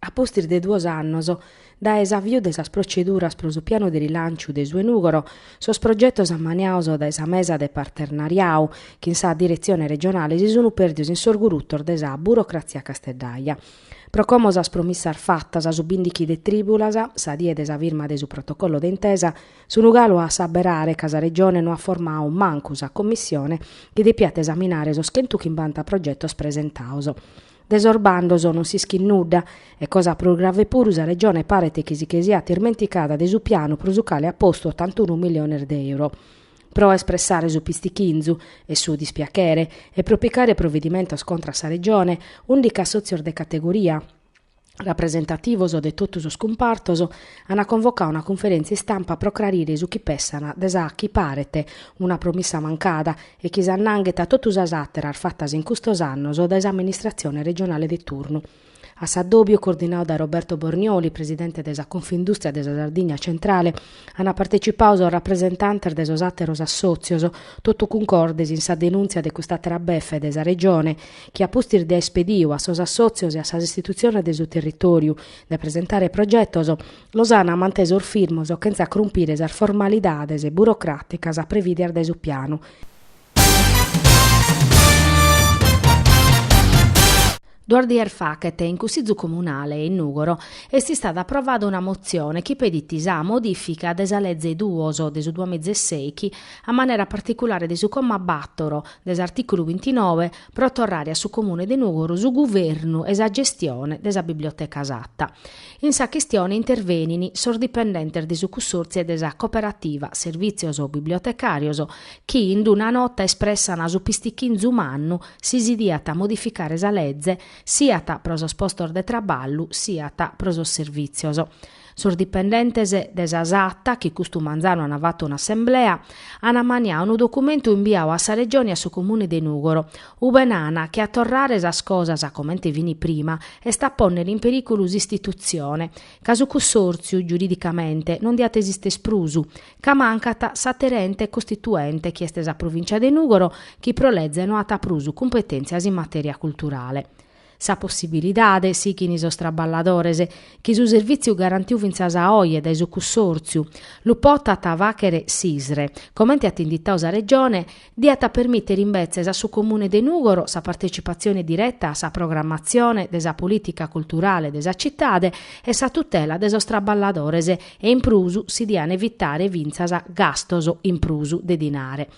A pustis de duos annos dae s'aviu de sas proceduras pro su pianu de rilànciu de su 'e Nùgoro, sos progetos ammaniados dae sa mesa de parternariadu chin sa diretzione regionale si sunt pèrdidos in sos gurutos de sa burocratzia casteddaja. Pro como sas promissas fatas su bìndighi de trìbulas, sa die de sa firma de su protocollo de intesa, sun galu a s'aberare ca sa Regione no at formadu mancu sa commissione chi depiat esaminare sos chentu chimbanta progetos presentados, De sos bandos non s'ischit nudda e, cosa prus grave puru, sa Regione paret chi si che siat ismenticada de su pianu pro su cale at postu otantunu milliones de euro. Pro espressare su pistichinzu e su dispiachere e pro picare provedimentos contra a sa Regione, ùndichi assòtzios de categoria, rapresentativos de totu sos cumpartos an convocadu una cunferèntzia istampa pro crarire su chi pensant de sa chi paret una promissa mancada e chi s'annanghet a totu sas àteras fatas in custos annos dae s'amministratzione regionale de turnu. A s'addòbiu, coordinadu dae Roberto Bornioli, presidente de sa Confindùstria de sa Sardigna Centrale, Ant partecipadu sos rapresentantes de sos àteros assòtzios, totu cuncordes in sa denùntzia de cust'àtera befe de sa Regione, chi a pustis de aer pedidu a sos assòtzios e a sas istitutziones de su territòriu de presentare progetos, los ant mantesos firmos chentza crumpire sas formalidades burocràticas previdias dae su pianu. Duos dies faghet, in Cussizu Comunale in Nùgoro, est istada aprovada una motzione chi pedit sa modìfica de sa Leze duos de su duamiza e sèichi, a manera particulare de su comma bàtoro de s'artìculu bintinove, pro torrare a su Comune de Nùgoro su guvernu e sa gestione de sa biblioteca Satta. In sa chistione intervenin sos dipendentes de su Cussòrtziu e de sa Cooperativa Servìtzios Bibliotecàrios chi in d-una nota espressana su pistichinzu mannu si si diat modificare sa leze siat pro sos postos de traballu siat pro sos servìtzios. Sos dipendentes de sa Satta, chi custu manzanu an fattu un'assemblea, an ammaniadu unu documentu imbiadu a sa Regione e a su Comune de Nùgoro, ube nan chi a torrare sas cosas comente fin prima est a pònnere in perìculu s'istitutzione, ca su cussòrtziu, giuridicamente, non diat esìstere prus, ca mancat s'àter'ente costituente chi est sa Provìncia de Nùgoro chi pro leze no at prus cumpetèntzias in matèria culturale. Sa possibilidade, sighint sos traballadores, chi su servìtziu garantiu fintzas a oe dae su cussòrtziu, lu potat fàghere s'ISRE, comente at inditadu sa Regione, Diat permìtere imbetzes a su Comune de Nùgoro sa partetzipatzione direta a sa programmatzione de sa polìtica culturale de sa citade e sa tutela de sos traballadores e in prus si dian evitare fintzas gastos in prus de dinare.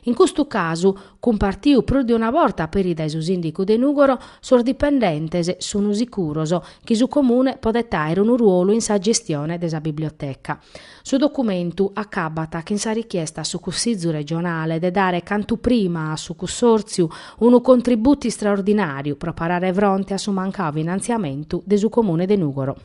In custu casu, cumpartiu prus de una borta peri dae su Sìndicu de Nùgoro, sos dipendentes sun sicuros chi su Comune podet àere unu ruolu in sa gestione de sa biblioteca. Su documentu acabat chin sa richiesta a su Cussìgiu regionale de dare cantu prima a su cussòrtziu unu contributu istraordinàriu pro parare fronte a su mancadu finantziamentu de su Comune de Nùgoro.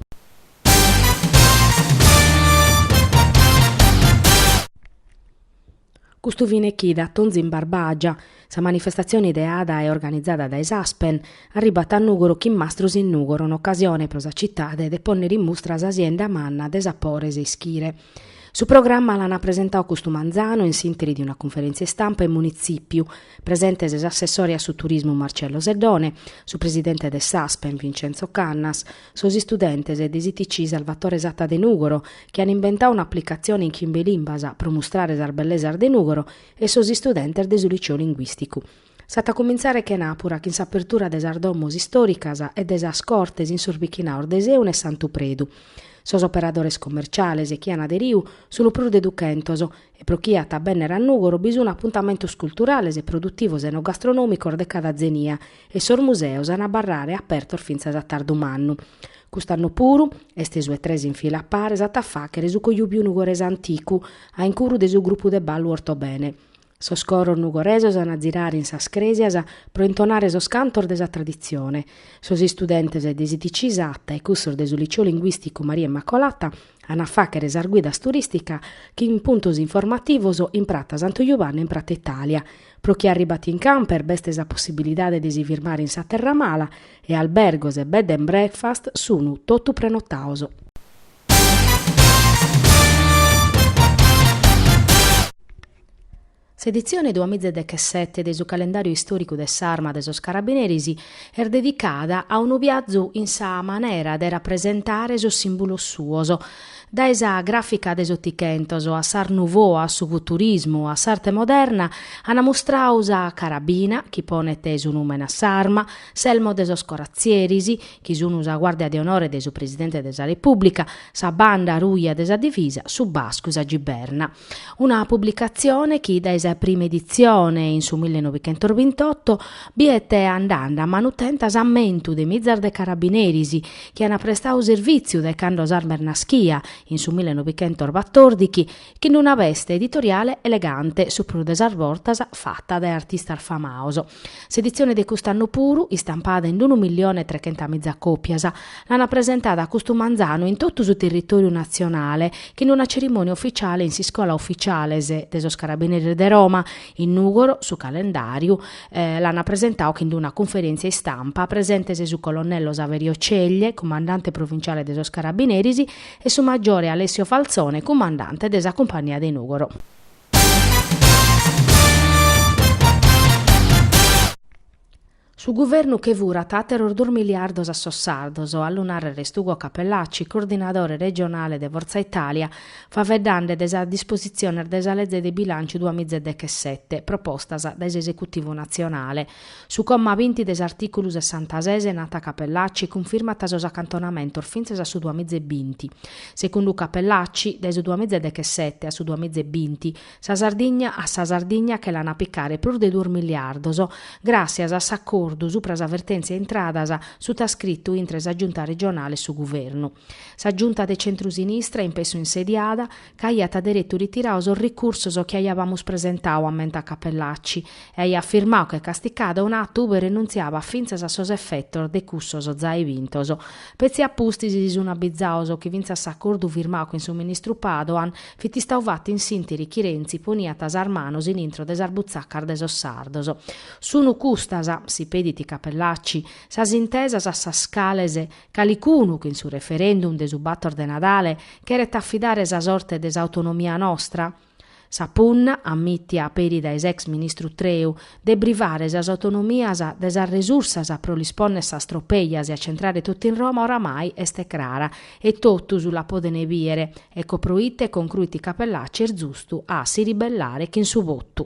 Custu fine chida Atonzu in Barbagia, sa manifestatzione ideada e organizada dae s'Aspen, arribat a Nùgoro chin Mastros in Nùgoro, un'ocasione pro sa citade de pònnere in mustra sa sienda manna de sapores e ischire. Su programma l'an presentau custu manzanu in s'ìnteri de una cunferèntzia istampa in Munitzìpiu, presentes s'assessore a su turismu Marcello Seddone, su presidente de s'Aspen Vincenzo Cannas, Sos istudentes de s'ITC Salvatore Satta de Nùgoro, chi an imbentau un'aplicatzione in chimbe limbas pro mustrare sas bellesas de Nùgoro, e sos istudentes de su Liceo Linguìsticu. S'at a cumintzare chenàpura chin s'apertura de sas domos istòricas e de sas cortes in sos bichinaos de Sèuna e Santu Predu. Sos operadores commerciales chi an aderiu sun prus de duchentos, e pro chie at a bènnere a Nùgoro bi sun apuntamentos culturales e produtivos enogastronòmicos de cada zenia e sos museos an a abarrare apertos fintzas a tardu mannu. Cust'annu puru, est su 'e tres in fila a pare s'at a fàchere su Cojubiu Nugorese Anticu, a incuru de su grupu de ballu Ortobene. Sos coros nugoresos an a zirare in sas crèsias pro intonare sos cantos de sa traditzione. Sos istudentes de s'ITC Satta e cussos de su Liceo Linguìsticu Maria Immacolata an a fàchere sas guidas turìstica chin puntos informativos in Prata Santu Juvanne e in Prata Itàlia. Pro chie arribat in camper b'est sa possibilidade de si firmare in sa Terra Mala e albergos e bed and breakfast sun totu prenotaos. S'editzione duamizadechesete de su Calendàriu Istòricu de s'Arma de sos Carabineris est dedicada a unu biazu in sa manera de rapresentare sos sìmbulos suos, dae sa gràfica de s'Otichentos a s'Art Nouveau a su Futurismu a s'Arte Moderna, ant mustrau sa carabina, chi ponet su nùmene a s'arma, s'elmo de sos coratzieris, chi sunt sa guàrdia de onore de su Presidente de sa Repùblica, sa banda ruja de sa Divisa, su bascu, sa giberna. Una publicatzione chi dae sa prima editzione, in su millenovichentosbintotto, biet andande a manu tenta s'ammentu de mizas de carabineris chi ant prestadu servìtziu dae cando s'Arma est naschia, in su millenovichentosbatordighi, chin una veste editoriale elegante, su prus de sas bortas fata dae artistas famados. S'editzione de cust'annu puru, istampada in unu millione e trechentamìza còpias, l'ant presentada custu manzanu in totu su territòriu natzionale chin una cerimònia ufitziale in s'Iscola Ufitziales de sos Carabineris de Roma. In Nùgoro su calendàriu l'ant presentadu chin una cunferèntzia istampa presentes su colonnello Saverio Ceglie, cumandante provinciale de sos Carabineris, e su maggiore Alessio Falzone, cumandante de sa Cumpagnia de Nùgoro. Su guvernu che furat àteros duos miliardos a sos sardos, a lu nàrrere est Ugo Cappellacci, coordinadore regionale de Forza Italia, faveddande de sas dispositziones de sa leze de bilànciu duamiza e dechesete, propostas dae s'esecutivu natzionale. Su comma binti de s'artìculu sessantases nat Cappellacci cunfirmat sos acantonamentos fintzas a su duamiza e binti. Segundu Cappellacci, dae su duamiza e dechesete a su duamiza e binti, sa Sardigna a sa Sardigna che l'an a picare prus de duos miliardos, gràssias a s'acordu supra sa vertèntzia intradas sutascritu intre sa Giunta regionale e su Guvernu. Sa Giunta de centrusinistra in pessu insediada, ca aiat deretu ritiradu sos ricursos chi aiabamus presentadu ammentat Cappellacci e aiat firmadu che casticada un'atu ube renuntziabat fintzas a sos effetos de cussos zai bintos. Petzi a pustis si sun abbizados chi fintzas s'accordu firmadu chin su ministru Padoan fit istadu fattu in s'interi chi Renzi poniat sas manos in intro de sas butzacas de sos sardos. Sunu custas, si pedit Cappellacci, sas intesas a sas cales Calicunu chin su referendum de su bator de Nadale cheret afidare sa sorte de s'autonomia nostra? Sa punna, ammitia peri dae s'ex ministru Treu, de brivare sas autonomias de sas resursas pro lis ponner sas tropejas e acentrare totu in Roma oramai est crara e totus la podent bìere, ecco proite concruit Cappellacci est zustu a si ribellare chin su votu.